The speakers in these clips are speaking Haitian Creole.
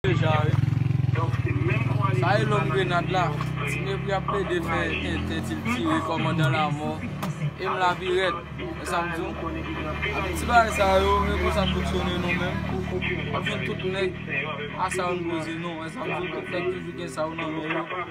Deja wi. Sa e lòm grenad la. Tinèbri ap plede fè entè dil tire kòmandan lamò. Em la pi rèd. Wè sam diw. Ape ti bagay sa yo e konsa n fonksyone nou menm. Wap jwenn tout nèg a sa yo n poze nou. Wè sam diw nap fèk toujou gen sa yo nan men yo.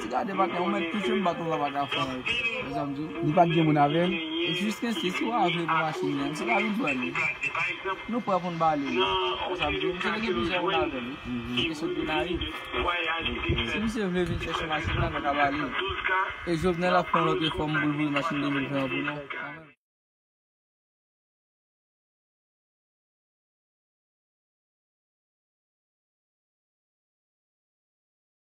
Ti gade batè ou mèt touche m bat ou la pa ka fè anyen. Li pat gen moun avè l? Jis kense si w avle pou machin nan misye ka vin pran li. Nou prè pou n ba li li. Misye te gen plizyè moun avè l wi. Li te sot Gonayiv. Si misye vle vin chèche machin nan nou ka ba li li. E Jovenel ap fè yon lòt efò m pou l voye machin 2020 an pou nou.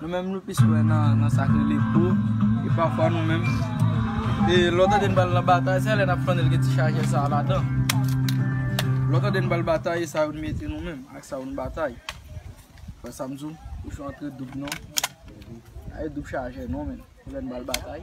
Nou menm nou plis kwè nan sa k rele po, e pafwa nou menm, e lè w tande n pale nan batay, se lè n ap flanne l gen ti chajè sa a ladan. Lè w tande n pale batay, e sa yo n mete nou menm, ak sa yo n batay. Ou wè sa m di w? Kouchon an tre doub non. Pa gen doub chajè non menm, lè n pale batay.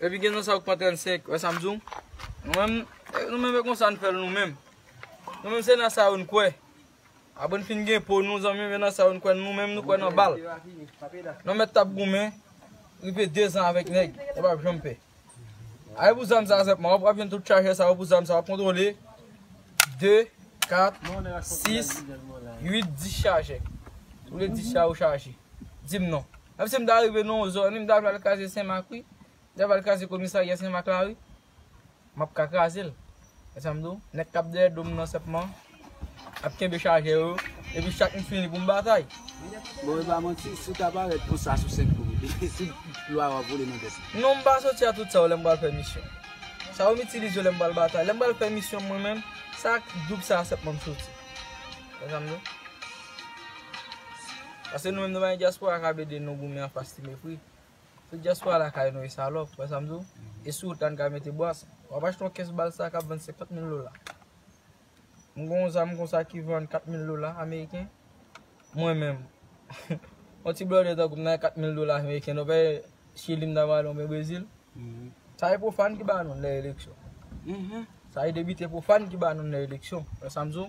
Epi gen nan sa yo ki pa 35, wè sa m di w? Nou menm, nou menm e konsa n fè l nou menm. Nou menm se nan sa yo n kwè. Apre n fin gen po nou zanmi m e nan sa yo n kwè, nou menm nou kwè nan bal. Nou mèt tap goumen, rive 2 zan avèk nèg, nou pap janm pè. A e pou zam sa senpman, wap jwenn tout chajè sa yo pou zam sa, wap kontwole 2, 4, 6, 8, 10 chajè. Tou le 10 sa yo chaje. Di m non. Menm si m ta rive nan yon zòn wi m ta pral kraze senmak wi m ta pral kraze komisarya senmak la wi m ap ka kraze l wè sa m di w nèg k ap dèyè do m nan senpman ap kenbe chajè yo epi chak m fini pou m batay Bon e pa manti si w ta parèt konsa sou senk kou si lwa yo ap vole nan vès ou. Non m pa soti a tout sa yo lè m pral fè misyon sa yo m itilize yo lè m pral batay lè m pral fè misyon mwen menm sa ak doub sa a senpman m soti wè sa m di w. Pase nou menm nou pa gen diaspora kap ede nou goumen anfas ti mepri. Se diaspora lakay nou ye salòp, wè sam di w? E si w ta n ka mete bwàs, wap achte yon kès bal sa kap vann 50 mil dola. M gen yon zam konsa ki vann 4 mil dola ameriken, mwen menm. Yon ti blòdè tankou m nan gen 4 mil dola ameriken non pè chili m ta pral oubyen brezil. Sa e pwofàn ki ba nou lè eleksyon. Sa e debite pwofàn ki ba nou lè eleksyon, wè sam di w?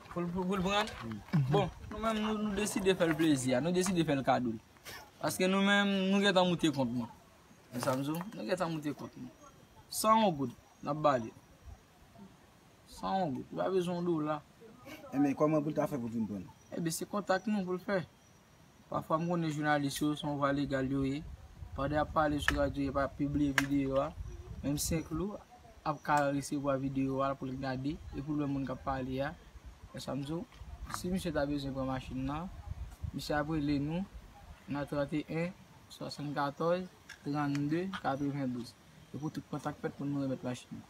Pou l pran? Bon, nou menm nou deside fè l plezi a, nou deside fè l kado. Paske nou menm nou gentan moute kont nou. Ou sa m di w? Nou gentan moute kont nou. San yon goud, n ap ba li. San yon goud. Li pa bezwen yon dola. Enben, kòman pou l ta fè pou l vin pran l? Enben, se kontak nou pou l fè. Pafwa m konnen jounalis yo son vwa legal yo ye, pandan y ap pale sou radyo yo pa pibliye videyo a, menm Senklou ap ka resevwa videyo a pou l gade epi l wè moun k ap pale a, men sa m di w, si misye ta bezwen pran machin nan, misye ap rele nou nan 31 74 32 92 e pou tout kontak fèt pou nou remèt machin nan.